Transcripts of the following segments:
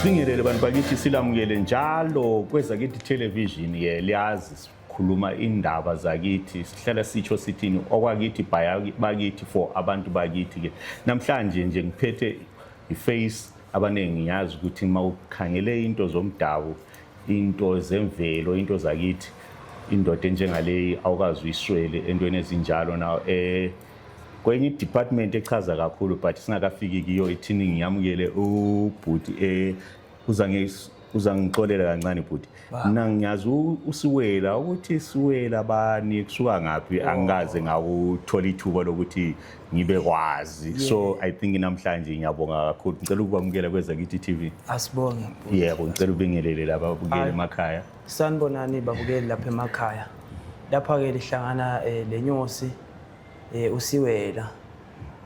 sibingelele bantu bakithi silamukele njalo kwezakithi television ke liyazi sikhuluma indaba zakithi sihlala sitsho sithini okwakithi bakithi for abantu bakithi ke namhlanje nje ngiphethe iface abaningi ngiyazi ukuthi uma ukhangele into zomdabu into zemvelo into zakithi indoda enjengaleyi awukazi uyiswele entweni ezinjalo na um eh, kwenye idepartment echaza kakhulu but singakafiki kiyo ithini ngiyamukele ubhuti um uzangixolela kancane bhuti mna ngiyazi usiwela ukuthi siwela bani kusuka ngaphi oh. angikaze ngakuthola ithuba lokuthi ngibe kwazi so i think namhlanje ngiyabonga kakhulu ngicela ukukwamukela kwezakithi t v asibonge yebo ngicela ubingelele laba babukele emakhaya sanibonani babukeli lapha emakhaya lapha-ke lihlangana um eh, le nyosi Eh usiwela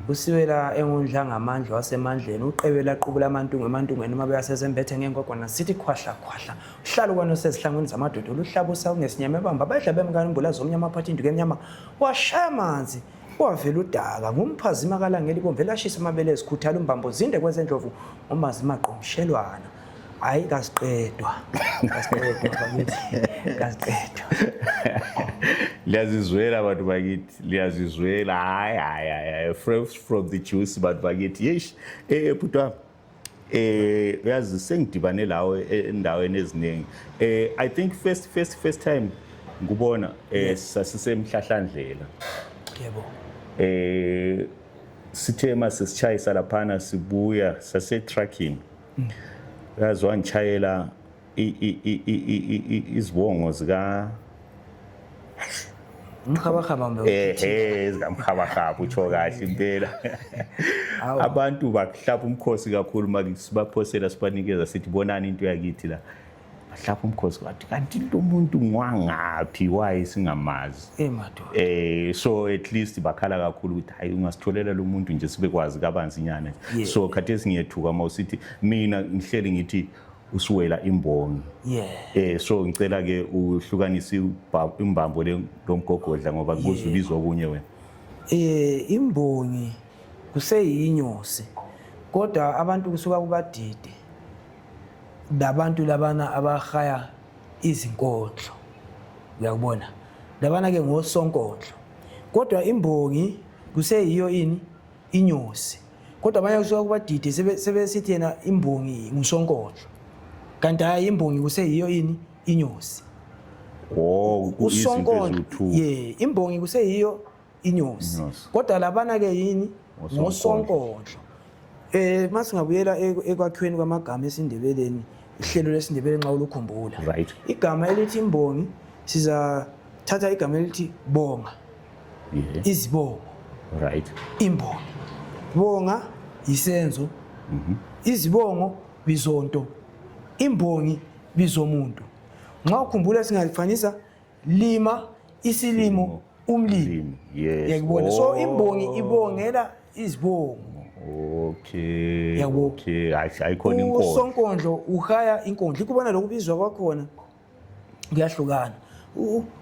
usiwela engundla ngamandla wasemandleni uqebela qubula amantungwe emantungweni uma beyasezembethe ngenkogwana sithi khwahla khwahla uhlala kwani osezihlangwini zamadoda oluhlabusa ungesinyama ebamba badla bemkani umbula zomnyama aphatha induku emnyama washaya amanzi wavela udaka ngumphazima kalangeli bomve lashisa amabele ezikhuthala umbambo zinde kwezendlovu umazimagqomshelwana hayi kasiqedwa kasiqedwa liyazizwela bantu bakithi liyazizwela hayi hayi hayi fresh from the juice bantu bakithi yesh eh bhuti wami eh uyazi sengidibane lawe endaweni eziningi eh i think first first first time ngikubona eh sasisemhlahlandlela yebo eh sithe mase sichayisa laphana sibuya sase trucking yazi wangitshayela izibongo zika umkhabahaba mbe ehe zikamkhabahaba utsho kahle impela abantu bakuhlapha umkhosi kakhulu makusibaphosela sibanikeza sithi bonani into yakithi la bahlapha umkhosi bathi kanti lo muntu ngwangaphi waye singamazi eh so at least bakhala kakhulu ukuthi hayi ungasitholela lo muntu nje sibekwazi kabanzinyana yeah. so khathesi ngiyethuka uma usithi mina ngihleli ngithi usuwela imbongi yeah. eh so ngicela ke uhlukanise imbambo le lomgogodla ngoba kubuza yeah. ubizwa kunye wena eh imbongi kuseyinyosi kodwa abantu kusuka kubadide labantu labana abahaya izinkondlo uyakubona labana ke ngosonkondlo kodwa imbongi kuseyiyo ini inyosi kodwa abanye kusuka kubadide sebesithi yena imbongi ngusonkondlo kanti hayi imbongi kuseyiyo ini inyosi oh, usonkondlo ye imbongi kuseyiyo inyosi kodwa labana ke yini ngosonkondlo eh masingabuyela ekwakhiweni kwamagama esindebeleni ihlelo lesindebele nxa ulukhumbula right igama elithi imbongi siza thatha igama elithi bonga yeah. izibongo right imbongi bonga yisenzo mm -hmm. izibongo bizonto imbongi bizomuntu nxa ukhumbula singalifanisa lima isilimo umlimi yes. yakubona so oh. imbongi ibongela izibongo okay yabo okay ayikhona inkondlo usonkondlo uhaya inkondlo ikubona lokubizwa kwakhona kuyahlukana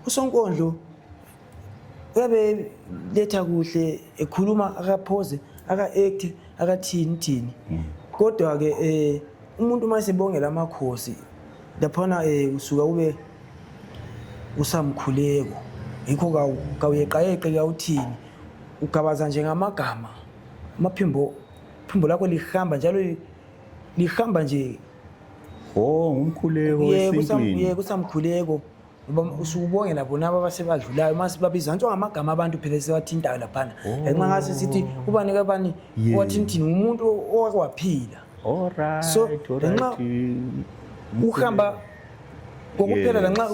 usonkondlo uyabe letha kuhle ekhuluma akaphoze aka-act akathini thini hmm. kodwa-ke um umuntu uma esebongela amakhosi laphana um usuka ube usamkhuleko yikho kawuyeqayeqe kawuthini ugabaza nje ngamagama amaphimbo phimbo lakho lihamba njalo lihamba nje o ngumkhuleko esintwini kusamkhuleko usubonge labo nabo abasebadlulayo uma sibabiza ngisho ngamagama abantu phela esiwathintayo laphana oh. ngenxa ngase sithi ubani kabani wathinthini ngumuntu owaphila so ngenxa uhamba kokuphela lanxa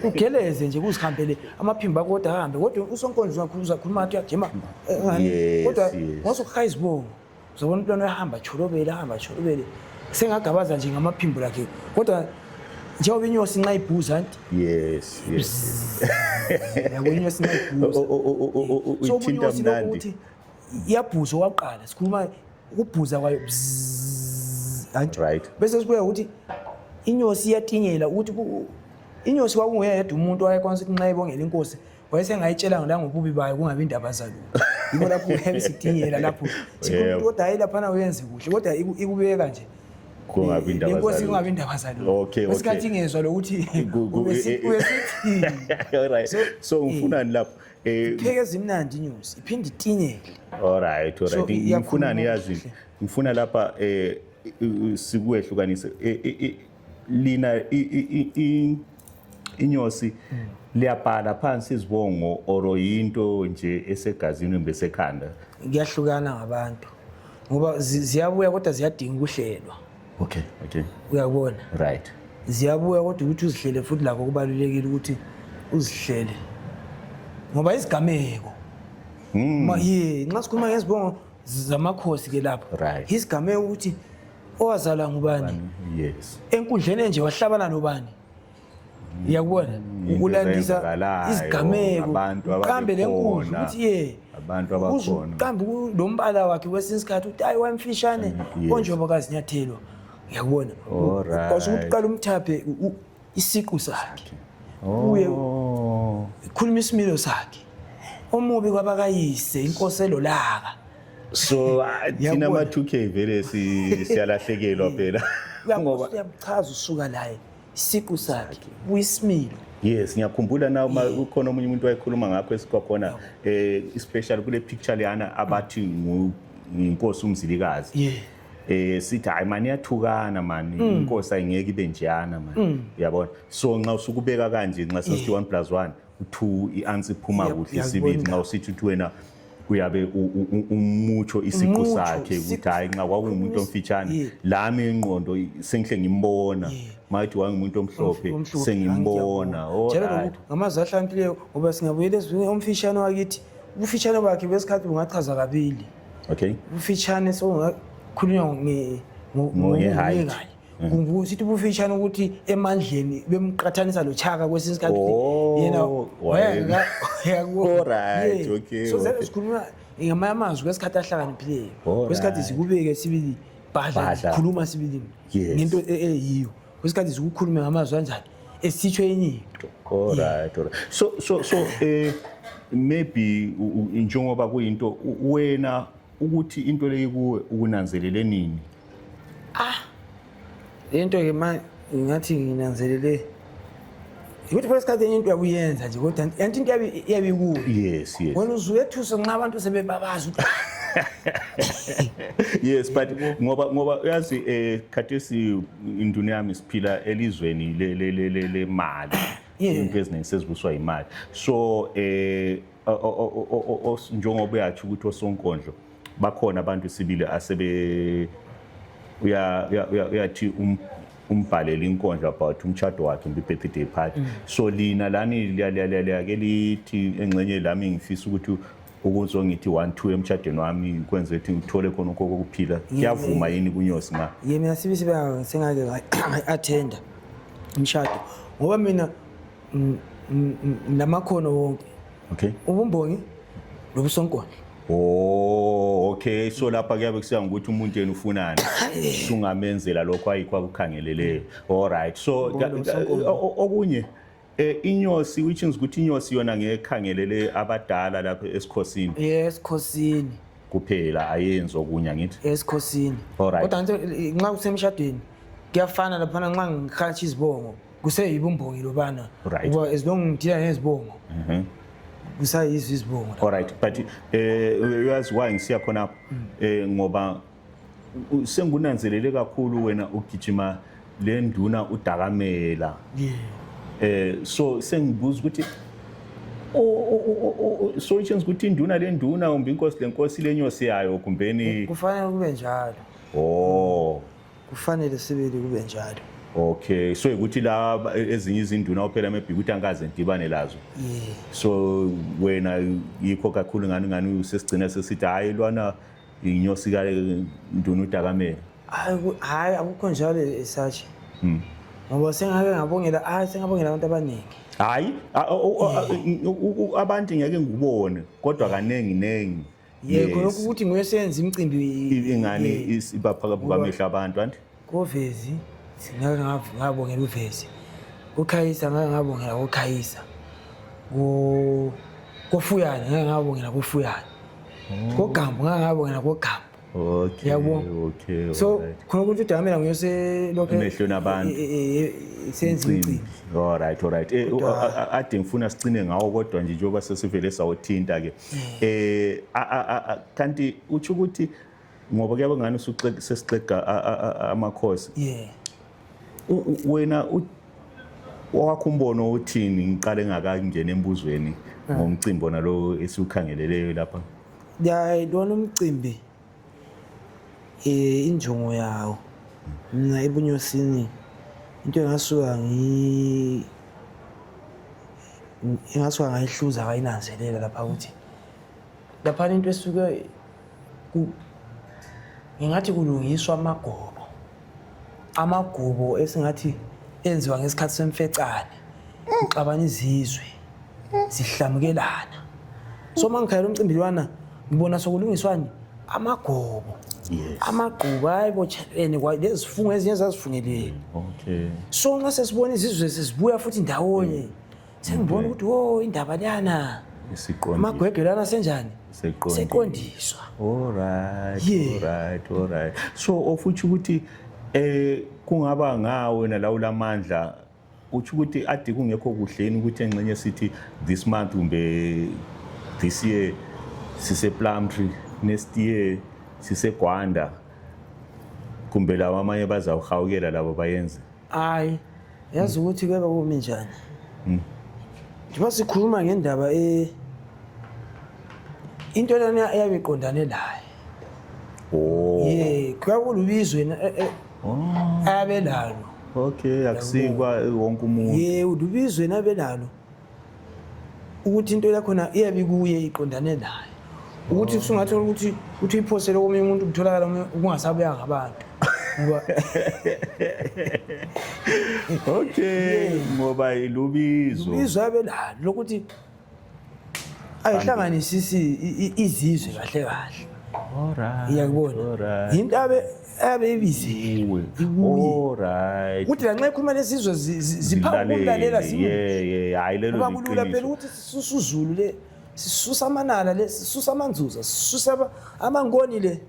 ugeleze nje kuzihambele amaphimbo akho kodwa ahambe kodwa usonkonzo uzakhuluma athi uyajima eh, kodwa ngosukuhayizibongo Uzobona umntwana uyahamba tsholobele ahamba tsholobele sengagabaza nje ngamaphimbo lakhe kodwa njengoba inyosi nxa ibhuza anti yes yes yabo inyosi nxa ibhuza so inyosi lokho ukuthi iyabhuza owakuqala sikhuluma ukubhuza kwayo anti right bese sikuya ukuthi inyosi iyatinyela ukuthi inyosi kwakunguye yedwa umuntu wayekwanisa ukuthi nxa ibongela inkosi wayesengayitshelanga langobubi bayo kungabi indaba zalo yikho lapho uyabe sidingela lapho sikhuluma kodwa hayi laphana uyenze kuhle kodwa ikubeka nje inkosi kungabi indaba zaloesikhathi ingezwa lokuthi so ngifunani lapho eh, pheke ezimnandi news iphinde itingele alright alright ngifunani yazi ngifuna lapha eh sikwehlukanise eh, eh, lina inyosi liyabhala phansi izibongo oro yinto nje esegazini kumbe sekhanda kuyahlukana ngabantu ngoba zi- ziyabuya kodwa ziyadinga ukuhlelwa okay okay uyabona right ziyabuya kodwa ukuthi uzihlele futhi lakho kubalulekile ukuthi uzihlele ngoba izigameko Ma- ye nxa sikhuluma ngezibongo zamakhosi ke lapho Right. isigameko ukuthi owazalwa ngubani yes enkundleni enje wahlabana nobani ngiyakubona ukulandisa izigameko uqambe le nkundla ukuthi ye abantu abakhona uqambe lo mbala wakhe kwesinye isikhathi ukuthi ayi wamfishane mm, konjengoba kazinyathelwa ngiyakubona kwasho ukuthi uqala umthaphe isiqu sakhe kuye oh. ikhuluma isimilo sakhe omubi kwabakayise inkosi elolaka so ah, thina ama 2k vele siyalahlekelwa phela ngoba uyabuchaza usuka laye isiqu sakhe kuyisimilo yes ngiyakhumbula na uma ukhona omunye umuntu wayekhuluma ngakho esikwakhona um eh, especially kule picture leyana abathi nginkosi umzilikazi yeah. eh sithi hayi mani yathukana mani mm. inkosi ayingeke ibe njana mani mm. uyabona so nxa usukubeka kanje nxa sesithi 1 plus 1 2 i-ansi iphuma kuhle isibili nxa usithi uthi wena kuyabe umutsho isiqu sakhe ukuthi hayi nxa kwakungumuntu omfitshane lami ingqondo sengihle ngimbona mayithi wangumuntu omhlophe sengimbona ngamazwi ahlakaniphileyo ngoba singabuyela ezwini omfitshane wakithi ubufitshane bakhe besikhathi bungachaza kabili okay ubufitshane sokungakhulinywa ngoye hayi kusithi ubufitshane ukuthi emandleni bemqathanisa lochaka kwesinye isikhathi oh, yena so sikhuluma ngamanye amazwi kwesikhathi ahlakaniphileyo kwesikhathi sikubeke sibili bhadla sikhuluma sibili ngento e-, eyiyo kwesikhathi zikukhulume ngamazwi anjani esitsho enye into alright alright so so so eh maybe u- u- njengoba kuyinto u- wena ukuthi into leyi kuwe ukunanzelele nini le nto-ke ma ngathi nginanzelele ukuthi phela isikhathi enye into yakuyenza nje kodwa yanti into yabe ikuwe yes yes wena uzuyethusa nxa abantu sebebabaza ukuthi yes but ngoba ngoba uyazi eh khathesi induna yami siphila elizweni le le le le mali into eziningi sezibuswa imali so eh njengoba yatsho ukuthi osonkondlo bakhona abantu sibili asebe uyathi um, umbhalele inkondlo about umtshado wakhe mbi birthday party mm. so lina lani liyake lithi engxenye lami ngifisa ukuthi ukuzo ngithi one two emtshadweni wami kwenza ukuthi ngithole khona ukho kokuphila kuyavuma yini kunyosi na ye mina sibi sibe singake attenda umshado ngoba mina N- n- n- namakhono wonke okay ubumbongi nobusonkona oh okay so lapha kuyabe kusiya ngokuthi umuntu yena ufunani sungamenzela lokho ayikho akukhangeleleyo all right so ka- ka- o- o- okunye eh, inyosi which means ukuthi inyosi yona ngekhangelele abadala lapha esikhosini esikhosini kuphela ayenzi okunye angithi esikhosini Alright. kodwa ngithi nxa kusemshadweni kuyafana laphana nxa ngihatsha izibongo kuseyibo umbongi lobana right. uba as long ngithina ngezibongo mm -hmm. kusayizo izibongo alright but eh uyazi why ngisiya khona lapho mm. eh ngoba sengunanzelele kakhulu wena ugijima le nduna udakamela yeah eh so sengibuza ukuthi solutions ukuthi induna le nduna kumbe inkosi le nkosi lenyosi yayo kumbeni kufanele kube njalo oh kufanele sibili kube njalo okay so ukuthi la ezinye izinduna ophela maybe ukuthi angikaze ngidibane lazo yeah. so wena yikho kakhulu ngani ngani usesigcina sesithi hhayi lwana inyosi kanduna udakamela hhayi akukho njalo esatshe hmm. ngoba sengake ngabongela hhayi sengabongela abantu abaningi hhayi abantu ngeke ngikubone kodwa kaningi ningi yekho Yes. lokhu ukuthi nguye oseyenza imicimbi ingani ye- is- iba phakathi Ngoba- kwamehlo abantu anti kovezi ngake ngav- ngabongela uvezi kukhayisa ngake ngabongela kukhayisa Ku- kofuyane ngake ngabongela kofuyane kogambo ngake ngabongela kogambo okay Yabo. okay so alright. khona ukuthi udakamela nguye oselokhu Emehlweni abantu. e- e- e- e- senza Mcimbi. imicimbi alright alright Eh, u- Kodwa- a- a- ade ngifuna sicine ngawo kodwa nje njengoba sesivele sawuthinta ke eh kanti utsho ukuthi ngoba kuyabe ngani sesixega amakhosi yeah wena wakho umbono uthini ngiqale ngakangena embuzweni ah. ngomcimbi ona lo esiwukhangeleleyo lapha ya lona umcimbi Eh injongo yawo mina ebunyosini into engasuka ngi engasuka ngayihluza ngayinanzelela lapha ukuthi lapha into esuke ku ngingathi kulungiswa amagobo amagubo esingathi enziwa ngesikhathi semfecane uxabana izizwe zihlamukelana so uma ngikhayela umcimbi lwana ngibona sokulungiswani amagobo amagquba hayi botshelene lezifungo ezinye zazifungeleni so nxa sesibona izizwe sezibuya futhi ndawonye mm. sengibona ukuthi wo indaba leyana amagwegwe lana senjani seqondiswa so ofutsho ukuthi um kungaba nga wena la ulamandla utsho ukuthi ade kungekho kuhleni ukuthi enxenye sithi this month kumbe this year siseplumtree next year sisegwanda kumbe labo amanye bazawuhawukela labo bayenze hayi Yazi ukuthi ke bakumi njani. Mm. Njengoba sikhuluma ngendaba e into lena eyabe iqondane naye. Oh. Yeah, kwakulubizwe na eh, eh. Oh. abelalo. Okay, akusikwa wonke umuntu. Yeah, ulubizwe nabelalo. ukuthi into yakhona iyabe kuye iqondane naye ukuthi usungathola ukuthi ukuthi uyiphosele komunye umuntu kutholakala kungasabuyanga abantu ngoba okay ngoba ilubizo ilubizo abelalo lokuthi ayihlanganisisi izizwe kahle kahle alright iyakubona yinto abe abebizelwe ukuthi lanxa ekhuluma lesizwe ziphambi kumlalela zimuba kulula phela ukuthi sisusa uzulu le sisusa amanala le sisusa amanzuza sisusa amankoni le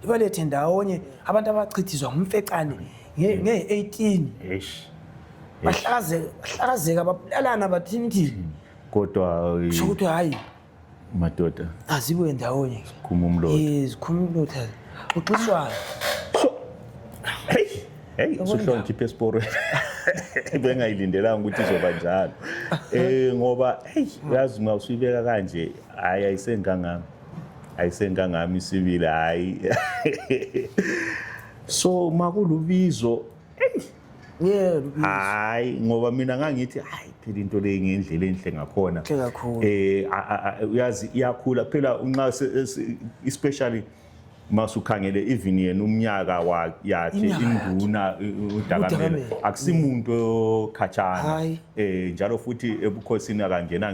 libalethe ndawonye abantu abachithizwa ngumfecane ngeye-18 bahlazeka babulalana bathini thini kodwa sokuthi hhayi madoda azibuye ndawonye zikhuma umlotha eh zikhuma umlotha uxiswayo hey hey usuhloniphe esporweni bengayilindelanga ukuthi izoba njalo eh ngoba hey yazi uma usuyibeka kanje hayi ayisengangami ayisengangami isibili hayi so makulubizo Yeah, hayi ngoba mina ngangithi hayi phela into le ngendlela enhle ngakhona eh uyazi iyakhula phela unxa especially masukhangele even yena umnyaka yakhe induna udakamele akusimuntu okhatshana eh njalo futhi ebukhosini akangena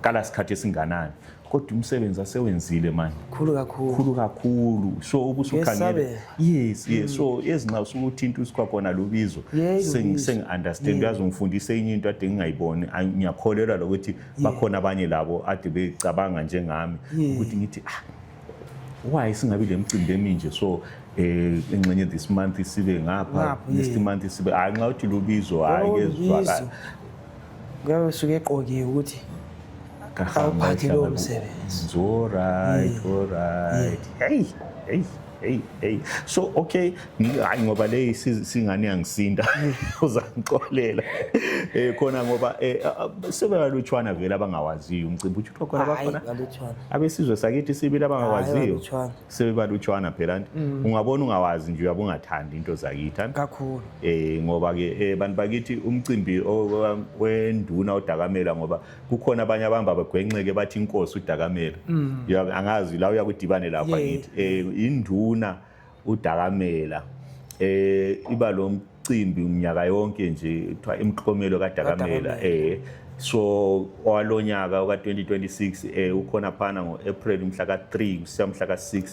kala sikhathi esinganani kodwa umsebenzi asewenzile manje khulu kakhulu khulu kakhulu so ubusukhangele yes yes so mm. ezinxa usukuthinta usikwa kona lubizo sengi understand uyazi ungifundise enye into ade ngingayiboni ngiyakholelwa lokuthi bakhona abanye labo ade becabanga njengami ukuthi ngithi ah why singabi le mcimbi eminje so eh ingxenye this month sibe ngapha next month sibe hayi nxa uthi lubizo hayi oh, kezwakala kuyabe kusuke eqokiwe ukuthi awuphathi lowo msebenzi zorit orit heyi heyi heyi heyi so okay hayi ngoba le singane yangisinda uzangixolela um khona ngoba um eh, ah, ah, sebebalutshwana vele abangawaziyo umcimbi utsho ukuthi khona bakhona abesizwe sakithi sibili abangawaziyo sebebathi ujohana phelani mm. ungabona ungawazi nje uyabe ungathandi into zakithi kakhulu eh ngoba ke eh, bantu bakithi umcimbi wenduna odakamela ngoba kukhona abanye abahamba bagwenxeke bathi inkosi udakamela mm. angazi la uyakudibane lapha ngithi eh induna udakamela eh iba lo cimbi mnyaka yonke nje kuthiwa imiklomelo kadakamela eh so owalonyaka oka-2026 eh ukhona phana ngo-april mhla ka-3 kusiya mhla ka-6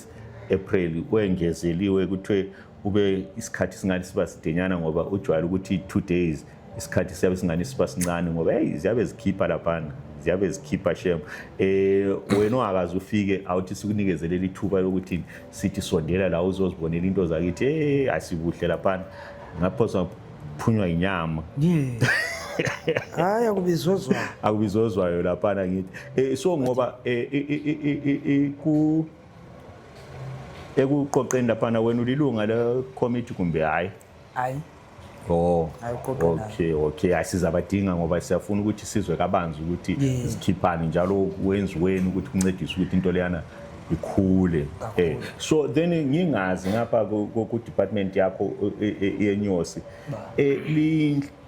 april kwengezeliwe kuthiwe kube isikhathi singani siba sidenyana ngoba ujwayele ukuthi two days isikhathi siyabe singani siba sincane ngoba heyi ziyabe zikhipha laphana ziyabe zikhipha shem um wena ungakaze ufike awuthi sikunikezele lithuba lokuthi sithi sondela la uzozibonela into zakithi hey asibuhle laphana ngaphosa phunywa yinyama hayi akubizozwayo akubizozwayo laphana ngithi eh so ngoba eh, eh, eh, ku ekuqoqeni laphana wena ulilunga le committee kumbe hayi hayi Oh, okay okay asizabadinga ngoba siyafuna ukuthi sizwe kabanzi ukuthi zikhiphani njalo wenziweni ukuthi kuncedise ukuthi into leyana ikhule eh so then ngingazi ngapha ku department yakho e, e, yenyosi eh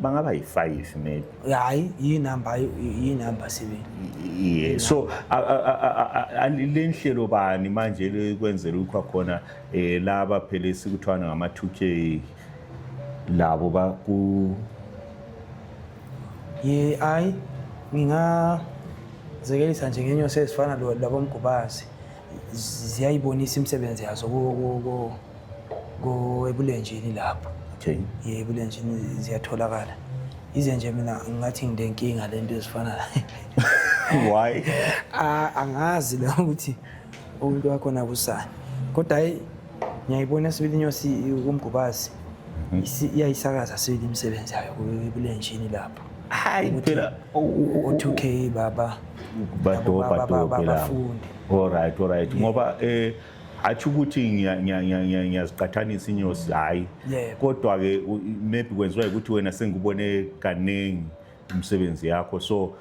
bangaba yi-five maybe hayi yinumber yinumber sibili yeah. so le nhlelo bani manje lekwenzela ukukha khona um laba phela esikuthiwana ngama-two k labo baku ye hayi ngingazekelisa nje ngenyosi ezifana labomgubazi ziyayibonisa imisebenzi yazo ku- ku- ku- ku- ebulenjini lapho Okay. ye ebulenjini ziyatholakala ize nje mina ngathi ngilenkinga le nto ezifana Why? A- angazi la ukuthi umuntu wakhona kusani kodwa hayi ngiyayibona sibili inyosi kumgubazi Isi- iyayisakaza sibili imisebenzi yayo ku- ebulenjini lapho Hayi phela. o- o- o- O2K baba badobha dobhe labo alright alright ngoba eh hatshi ukuthi ngiyaziqathanisa inyosi hhayi kodwa-ke maybe kwenziwa ukuthi wena sengikubone kaningi umsebenzi yakho so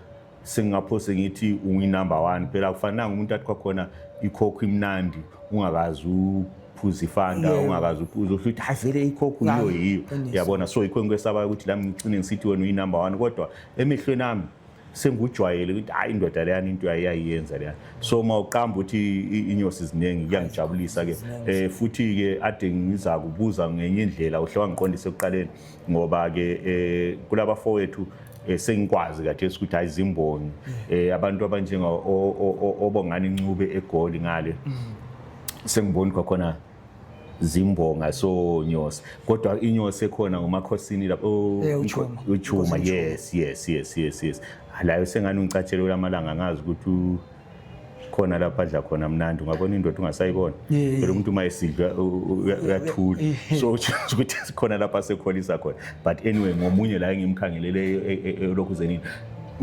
sengingaphose ngithi unguyinumber one phela kufanelanga umuntu athi kwakhona ikhokho imnandi ungakazi uphuza ifanda ungakazi uphuza uhlu ukuthi hayi vele ikhokho yiyo yiyo yabona so yikho engikwesaba ukuthi lami ngicine ngisithi wena uyinumber one kodwa emehlweni ami sengikujwayele ukuthi hayi indoda leyani into yayiyenza leyani so uma uqamba ukuthi inyosi ziningi kuyangijabulisa ke eh futhi ke ade ngiza kubuza ngenye indlela uhle wangiqondisa ekuqaleni ngoba ke eh kulaba fowethu eh, sengikwazi kathesi ukuthi hayi zimbongi eh abantu abanjenga obongani ncube egoli ngale mm. sengiboni kwakhona zimbonga so nyosi kodwa inyosi ekhona ngomakhosini lapho oh, eh, uchuma yes yes yes yes yes layo sengani ungicatshele lamalanga ngazi ukuthi khona lapha adla khona mnandi ungabona indoda ungasayibona phela umuntu uma esidla uyathula so ukuthi sikhona lapha sekholisa khona but anyway ngomunye la engimkhangelele elokhu e, e, e, zenini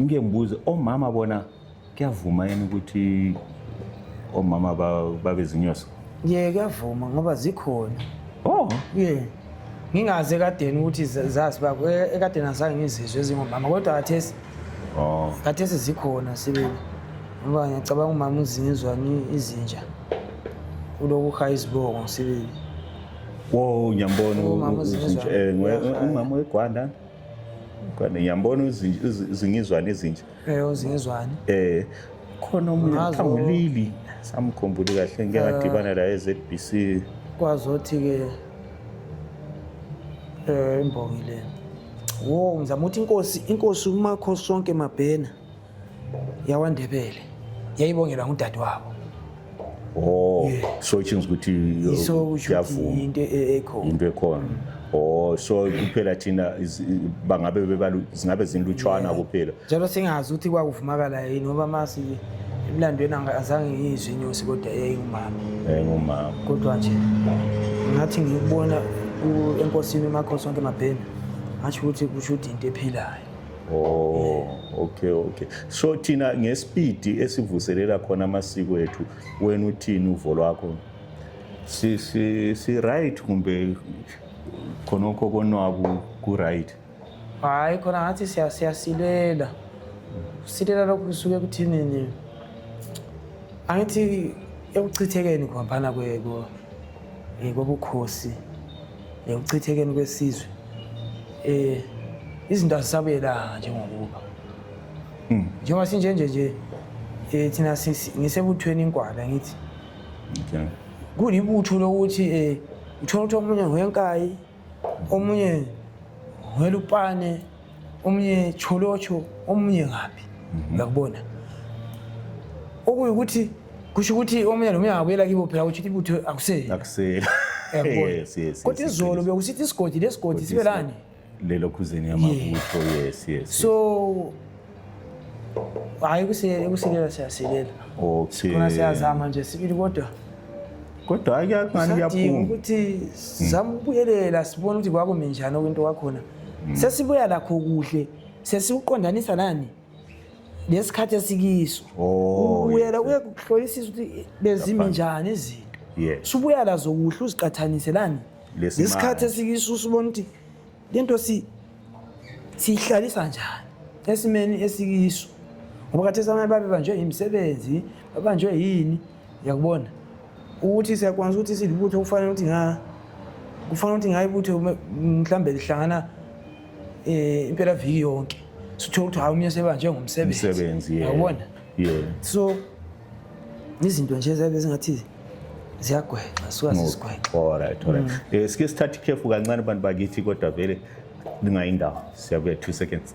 ngike ngibuze omama bona kuyavuma yini ukuthi omama ba- babezinyosi ye kuyavuma ngoba zikhona oh ye ngingazi ekadeni ukuthi za- zazi bako E- ekadeni azange ngizizwe ezingomama kodwa kathesi oh kathesi zikhona sibili ngoba ngiyacabanga umama uzinzwa ni- izinja ulokuha izibongo sibili wo ngiyambona u- Umama u- uzinzwa. uzinja eh, ngwe- Uyafana. umama wegwanda Gwanda, ngiyambona uzinja- uzi- uzingizwana izinja Eh uzezwani? Eh khona umuntu Ngazo- phangulili samkhumbuli kahle ngeke ngadibana laye eZBC. Kwazothi ke eh imbongi le. Wo ngizama ukuthi inkosi inkosi umakho sonke mabhena yawaNdebele yayibongelwa ngudadewabo. Oh, yeah. so itshinga ukuthi uh, so kuyavuma into e-, ekhona into ekhona oh so kuphela thina bangabe bebalu zingabe zinlutshwana kuphela njalo singazi ukuthi kwakuvumakala yini ngoba masi emlandweni azange ngiyizwe inyosi kodwa yayingumama yayingumama kodwa nje ngathi ngiyibona enkosini umakhosi onke mabhena ngasho ukuthi kusho ukuthi into ephilayo Oh, okay okay. So thina ngespeed esivuselela khona amasiko ethu wena uthini uvo lwakho? Si si si right kumbe khonokho konwabu ku right? Hayi khona ngathi siya siyasilela. Silela lokhu kusuke kuthini nje? Angithi ekuchithekeni kuhambana kwe kobukhosi. ekuchithekeni kwesizwe um izinto azisabuyelanga njengokuba hmm. njengoba sinjenje nje um thina ngisebuthweni inkwala ngithi kulibutho lokuthi um uthole ukuthi omunye ngwenkayi omunye ngwelupane omunye cholotsho omunye ngaphi mhm. ngakubona okuyukuthi kusho ukuthi omunye nomunye angabuyela kibo phela kutsho ukuthi ibutho akusela kodwa izolo bekusithi isigodi lesigodi sibe lani lelokhuzeni yamabutho yes yes so hayi ukusilela siyasilela okay khona siyazama nje sibili kodwa kodwa ake akungani kuyaphuma ukuthi hmm. sizama ukubuyelela sibone ukuthi kwakumi njani okwento kwakhona hmm. sesibuya lakho kuhle sesiwuqondanisa nani lesikhathi esikiso oh, ubuyela uye kuhlolisisa ukuthi bezimi njani izinto subuya lazo kuhle uziqathanise lani lesikhathi esikiso usubona ukuthi lento si siyihlalisa njani esimeni esikiso ngoba khathesi abanye babebanjwe yimisebenzi babanjwe yini yakubona ukuthi siyakwanisa ukuthi silibutho kufanele ukuthi nga kufanele ukuthi ngayibutho mhlawumbe lihlangana um impelaviki yonke sithole ukuthi hayi umnye sebanjwe ngumsebenzi yabona yeah so izinto nje ziyabe zingathi ziyagwexa suka zizigwexa alright alright mm. eh sike sithathe ikhefu kancane abantu bakithi kodwa vele lingayindawo siyabuya 2 seconds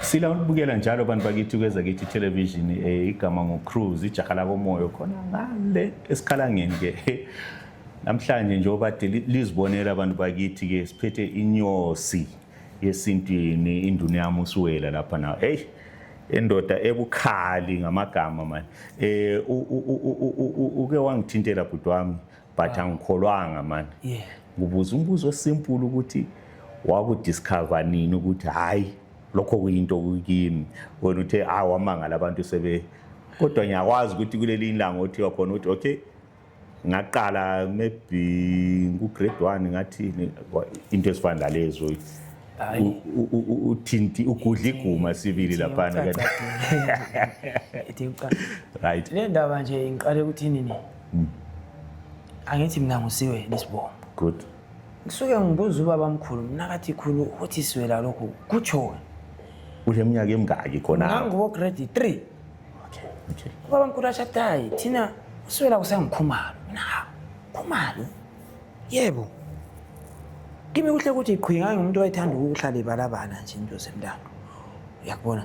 Sila ukubukela njalo bantu bakithi kweza kithi television eh, igama ngo Cruise ijaha lakomoyo khona ngale esikhalangeni ke namhlanje njengoba lizibonela abantu bakithi ke siphethe inyosi yesintwini induna yami usuwela lapha na hey endoda ebukhali ngamagama manje eh uke wangithintela bhuti wami but ah. angikholwanga mani yeah. ngibuza umbuzo osimple ukuthi wakudiscover nini ukuthi hhayi lokho kuyinto kukimi wena uthe hayi ah, wamangala abantu sebe kodwa ngiyakwazi ukuthi kuleli ilanga othiwa khona ukuthi okay ngaqala maybe ngu-grade one ngathi into ezifana nalezo uthinti ugudla iguma sibili laphana right le ndaba nje ngiqale ukuthi nini Hmm. angithi mina ngusiwe lisibongo good ngisuke ngibuza ubaba mkhulu mina kathi khulu ukuthi siwela lokhu kutshoni kule minyaka emingaki khona ngangibo grade three okay okay ubaba mkhulu ashadayi thina usiwela kusengikhumalo mina hawu khumalo yebo kimi kuhle ukuthi qhwi ngangimuntu owayethanda ukuhlala ibalabala nje into zemntando uyakubona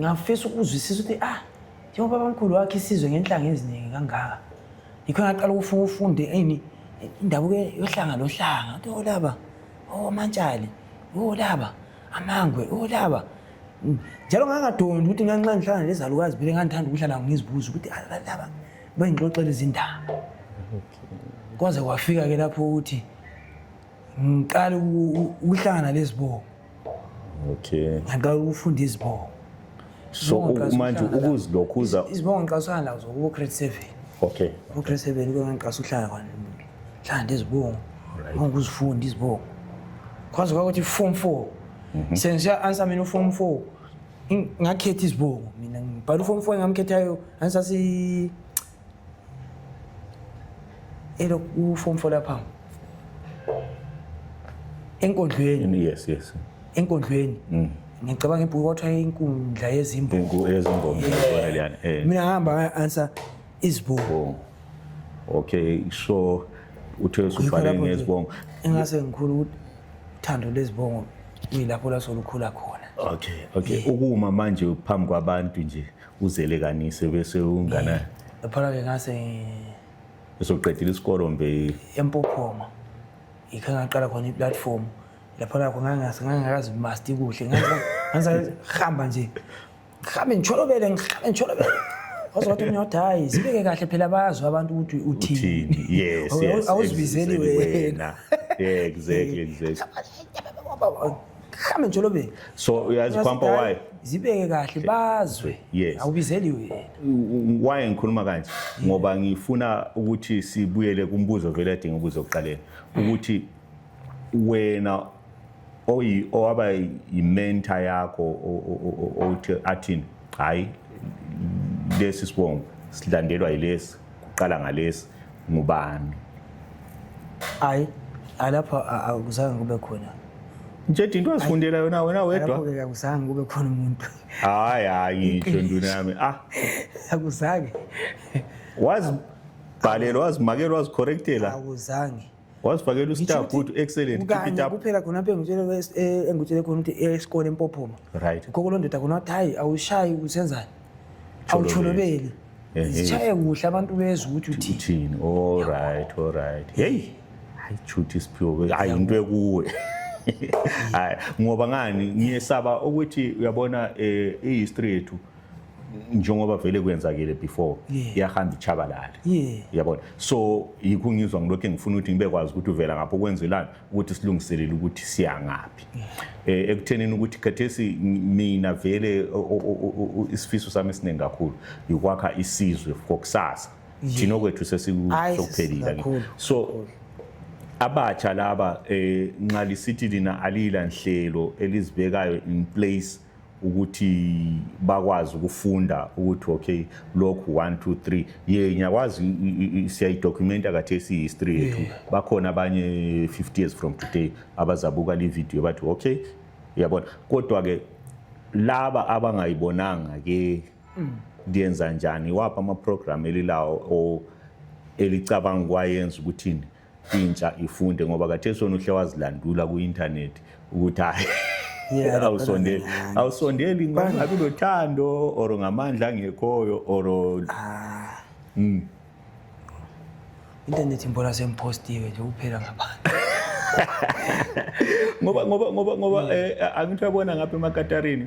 ngafisa ukuzwisisa ukuthi ah njengoba abamkhulu wakhe isizwe ngenhlanga eziningi kangaka yikho ngaqala ukufuna ufunde ini indabuko yohlanga lohlanga ukuthi olaba oh, omantshali olaba oh, amangwe olaba oh, mm. njalo ngangadondi ukuthi nganxa ngihlala nezalukazi phele ngandithanda ukuhlala ngizibuza ukuthi alaba ah, bengixoxela izindaba kwaze kwafika-ke lapho ukuthi ngiqale ukuhlangana lezibongo okay nxa ufunda izibongo so manje ukuzilokhuza izibongo ngiqasukana lazo kubo grade seven okay kubo grade seven kuyo ngiqasa uhlala kwani hlala ndezibongo ngokuzifunda izibongo kwazi kwakuthi form four mhm. sengisiya answer mina uform four ngakhetha izibongo mina ngibhala uform four engamkhethayo ansasi elo kuform four lapha enkondlweni yes yes enkondlweni mm. ngicabanga ibhuku kwathiwa inkundla yezimbongo yezimbongo liyana eh. mina ngihamba answer izibongo oh. okay so uthe usubhale ngezibongo engase ngikhulu uthando lezibongo kuyilapho lasolukhula khona okay okay ukuma manje phambi kwabantu nje uzele kani sebe sewungana phela ke ngase esoqedile isikolo mbe empophoma ikhe ngaqala khona iplatform lapho lakho ngangase ngangakazi master kuhle ngase hamba nje ngihambe ngitsholobele ngihambe ngitsholobele ozothi umnyoda hayi zibeke kahle phela bazwe abantu ukuthi uthini yes yes awuzibizeli wena exactly exactly hambe njalo be so uyazi kwampa why zibeke kahle bazwe yes awubizeli wena why ngikhuluma kanje ngoba ngifuna ukuthi sibuyele kumbuzo vele adinga ubuzo kuqaleni ukuthi wena oyi owaba yimentor yakho othi athini hayi lesi sibongo silandelwa yilesi kuqala ngalesi ngubani hayi alapho akuzange kube khona Njedi into azifundela yona wena wedwa. Lapho-ke akuzange kube khona umuntu. Hayi hayi ngisho nduna yami. Ah. Akuzange. Wazibhalela, wazimakela, wazicorrectela. Akuzange. wasifakela ustar good excellent kanye kuphela khona apha engitshele khona ukuthi esikole empophoma right khokho londoda khona wathi hayi awushayi usenzani awutsholobeli zishaye kuhle abantu bezwe ukuthi uthini all right all right hey hayi chuthi isiphiwo hayi into ekuwe hayi ngoba ngani ngiyesaba ukuthi uyabona eh, i-history yethu njengoba vele kwenzakile before iyahamba ichabalale yabona so yikho ngizwa ngilokhu engifuna ukuthi ngibe kwazi ukuthi uvela ngapho kwenzelani ukuthi silungiselele ukuthi siyangaphi um eh, ekuthenini ukuthi khathesi mina vele isifiso sami esiningi kakhulu yikwakha isizwe kokusasa thina okwethu sesiphelile so abatsha laba um nxa lisithi lina aliyila nhlelo elizibekayo in place ukuthi bakwazi ukufunda ukuthi okay lokhu 1 2 3 ye ngiyakwazi siyayidokumenta kathesi history yethu bakhona abanye 50 years from today abazabuka le video bathi okay uyabona kodwa ke laba abangayibonanga ke mm. ndiyenza njani wapha ama program elilawo o elicabanga kwayenza ukuthini intsha ifunde ngoba kathesi wona uhle wazilandula ku-internet ukuthi hayi awusondeli awusondeli ngabi lothando or ngamandla angekhoyo or ah. hmm. internet mbona semphostiwe nje kuphela ngabantu ngoba ngoba ngoba ngoba hmm. eh, angithi uyabona ngapha emakatarini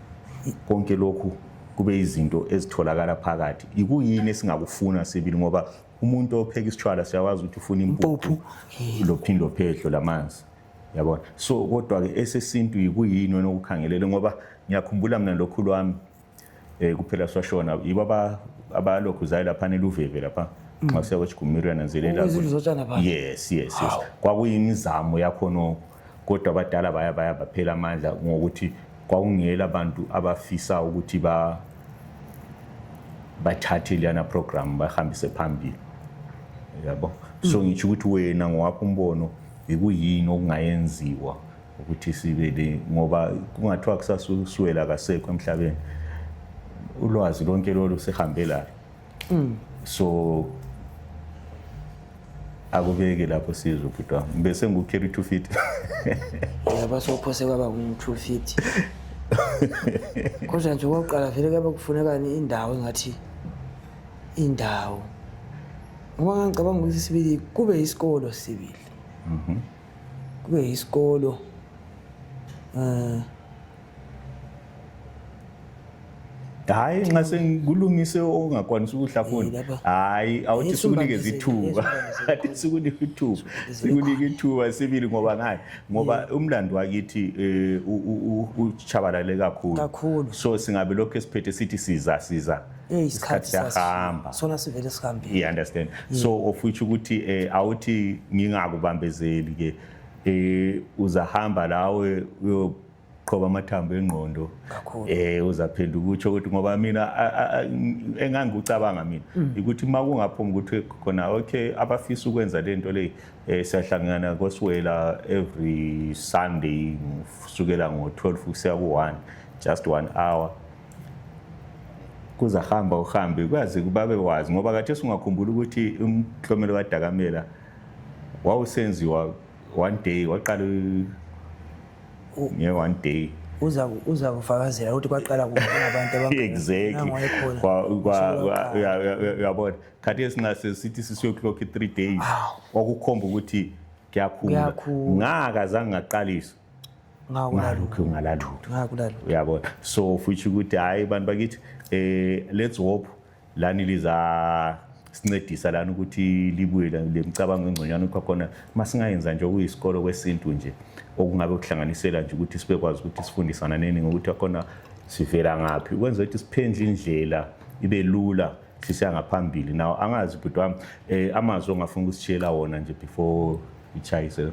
konke lokhu kube izinto ezitholakala phakathi yikuyini esingakufuna sibili ngoba umuntu opheka isitshwala siyakwazi ukuthi ufuna impuphu lophindo phedlo lamanzi yabona so kodwa ke esesintu yikuyini wena okukhangelele ngoba ngiyakhumbula mina lokhu lwami eh kuphela swashona yibo aba abalokhu zayi lapha neluveve lapha mm. nxa siya kwesigumirana nzelela yes yes yes kwakuyimizamo yakho nokho kodwa abadala baya baya baphela amandla ngokuthi kwakungela abantu abafisa ukuthi ba bathathe leyana program bahambise phambili yabo so ngitsho ukuthi wena ngowakho umbono yikuyini okungayenziwa ukuthi sibe le ngoba kungathiwa kusasuswela kasekho emhlabeni ulwazi lonke lolu sihambelayo mm. so akubeke lapho sizwe ubhuti wami ngibe sengiku-carry two feet yaba sophose kwaba ngu-two feet kodwa nje okokuqala vele kuyabe kufunekani indawo engathi indawo ngoba ngangicabanga ukuthi sibili kube isikolo sibili mhm. kube isikolo um eh, hayi nxa sengikulungise ongakwanisa ukuhlafuna hayi awuthi sikunikeza ithuba kade sikunika ithuba sikunika ithuba sibili ngoba ngani ngoba umlando wakithi eh, utshabalale kakhulu so singabe lokhu esiphethe sithi siza siza isikhathi siyahamba sona sivele sihambile you understand mm. so of which ukuthi eh, awuthi ngingakubambezeli ke eh, uzahamba lawe qhoba amathambo engqondo eh uzaphinda ukutsho ukuthi ngoba mina engangikucabanga mina mm. ukuthi uma kungaphuma ukuthi khona okay abafisa ukwenza le nto leyi um siyahlangana kosiwela every sunday kusukela ngo-twelve kusiya ku-one just one hour kuzahamba uhambe kwazi babe wazi ngoba kathi singakhumbula ukuthi umhlomelo kadakamela wawusenziwa one day waqala nge one day uza uza kufakazela ukuthi kwaqala kubantu abanguyabona khathi esinase sithi sisiyoclock i-three days okukhomba ukuthi kuyakhula ngaka zange ngaqalisa ngalokhu ngalalutho uyabona so futhi ukuthi hhayi bantu bakithi um let's hope lani liza sincedisa lana ukuthi libuye lemicabango engconywana ukuthi khona masingayenza nje okuyisikolo kwesintu nje okungabe kuhlanganisela nje ukuthi sibekwazi ukuthi sifundisana neni ngokuthi khona sivela ngaphi ukwenza ukuthi siphendle indlela ibe lula sisiya ngaphambili nawo angazi bhuti wami um amazwi ongafuna ukusitshiyela wona nje before ichayise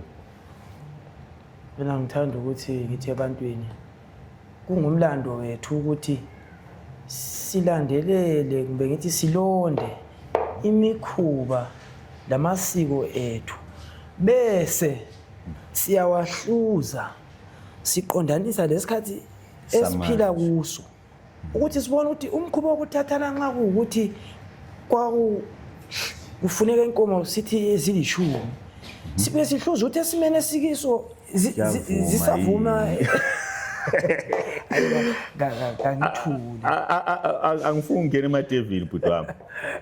mina ngithanda ukuthi ngithi ebantwini Kungumlando wethu ukuthi silandelele kumbe ngithi silonde imikhuba lamasiko ethu bese siyawahluza siqondanisa lesikhathi esiphila kuso ukuthi sibone ukuthi umkhuba wokuthathana nxa kuwukuthi kwakufuneka inkomo sithi ezilishumi sibe sihluza ukuthi esimeni esikiso zisavuma kangithuli angifuni ungena emadevini bhuti wami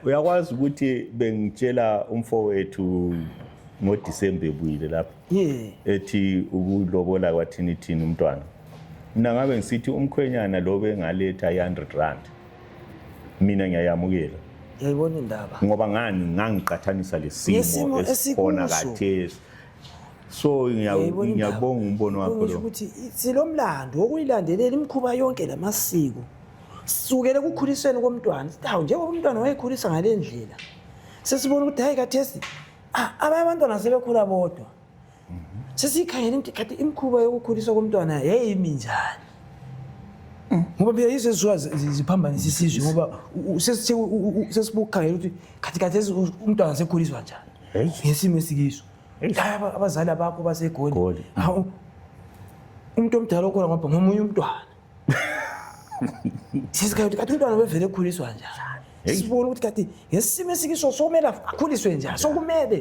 uyakwazi ukuthi bengitshela umfowethu ngodisemba ebuyile lapho ethi ukulobola kwathini thini umntwana mina ngabe ngisithi umkhwenyana lobe engaletha i-hundred rand mina ngiyayamukela yayibona indaba ngoba ngani ngangiqathanisa lesimo esikhona kathesi so ngiyabonga umbono wakho lo ukuthi silomlando wokuyilandelela imikhuba yonke lamasiko sukele ekukhulisweni komntwana sithi hawu njengoba umntwana wayekhulisa ngale ndlela sesibona ukuthi hayi kathesi ah, abanye abantwana sebekhula bodwa sesiyikhangele ukuthi khathi imikhuba yokukhuliswa komntwana yayimi njani ngoba phela yizo ezisuka ziphambanisa isizwe ngoba sesibukhangela ukuthi khathi khathi umntwana sekhuliswa njani ngesimo esikiso abazali abakho basegoli umuntu omdala okhona ngoba ngomunye umntwana sesikhangela ukuthi khathi umntwana bevele ekhuliswa njani sibona ukuthi khathi ngesimo esikiso sokumele akhuliswe njani sokumele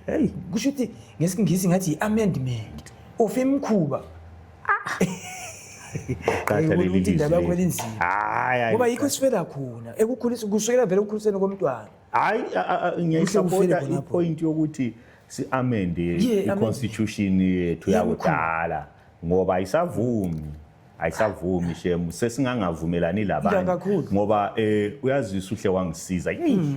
Hey, kusho ukuthi ngesingisi ngathi i-amendment of imkhuba. Qatha leli ukuthi indaba yakho lizwi. elinzima. Hayi, hayi. Ngoba yikho esifela khona ekukhulisa kusukela vele ekukhuliseni komntwana. Hayi, a- a- a- ufele ngiyayisapota khona lapho. ipoint yokuthi si-amende Yeah, amend- i-constitution yethu Yeah, yakudala ngoba ayisavumi ayisavumi shem sesingangavumelani Iya, labanye kakhulu. ngoba um uyazisa uhle wangisiza yeyi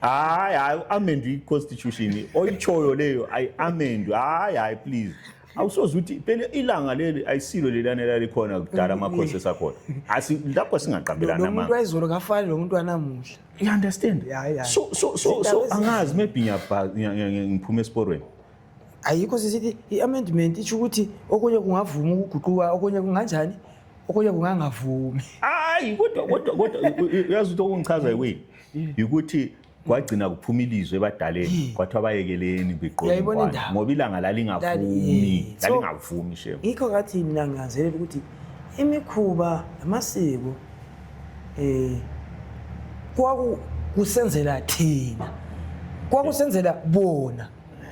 hayi hayi amendwe i-constitution oyitshoyo leyo ayiamendwe hayi hayi please awusoze ukuthi phela ilanga leli ayisilo leliyana elalikhona kudala amakhosi esakhona Asi- lapho singaqambelani lomuntu amanga wayizolo kafani lomuntu wanamuhla you understand Ya, ya. so so so Zindaba so ezi- angazi maybe ngiyabha- ngiya- ngiya- ngiya- ngiphuma esiporweni ayikho sisithi i-amendment itsho ukuthi okunye kungavuma ukuguquka okunye kunganjani okunye kungangavumi hayi kodwa kodwa kodwa u- u- uyazi ukuthi okungichaza yiwini yikuthi kwagcina kuphuma ilizwe ebadaleni kwathiwa bayekeleni begqoke ngoba ilanga lalingavumi lalingavumi shem yikho ngathi mina nginanzelela ukuthi imikhuba namasiko um kwaku kusenzela thina kwakusenzela bona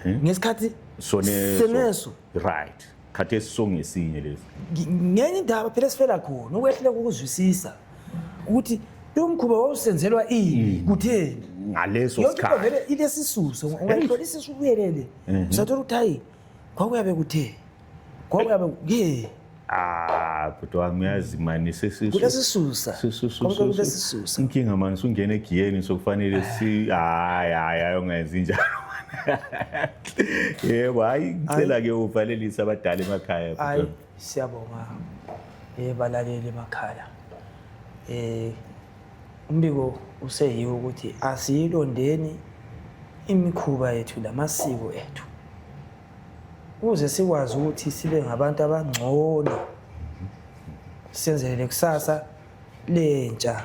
ngesikhathi soneso right khathesi songesinye lesi Ngi- ngenye indaba phela esifela khona ukwehluleka ukuzwisisa ukuthi lo mkhuba wawusenzelwa ini kutheni ngaleso yonke into sikhathi vele ilesisuso ungayithola isisu ubuyelele usathola ukuthi hayi kwakuyabe kuthe kwakuyabe ke ah bhuti wami uyazi mani sesisu kulesisusa Su- su- su- konke su- su- kulesisusa inkinga mani sungena egiyeni sokufanele si hayi hayi hayi ungenzi njalo yebo hayi ngicela-ke uvalelise abadala emakhaya hayi siyabonga um balaleli emakhaya um umbiko useyiwo ukuthi asiyilondeni imikhuba yethu lamasiko ethu ukuze sikwazi ukuthi sibe ngabantu abangcono senzelele kusasa lentsha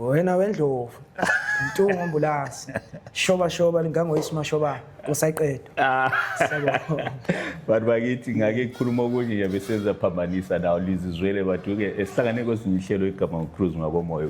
wena wendlovu mtungu ambulance shoba shoba lingangoyisi mashoba kusaqedwa ah. bantu bakithi ngake khuluma okunye nje besenza phambanisa nawo lizizwele baduke esihlangane kwezinye ihlelo igama ngocruise ngakomoya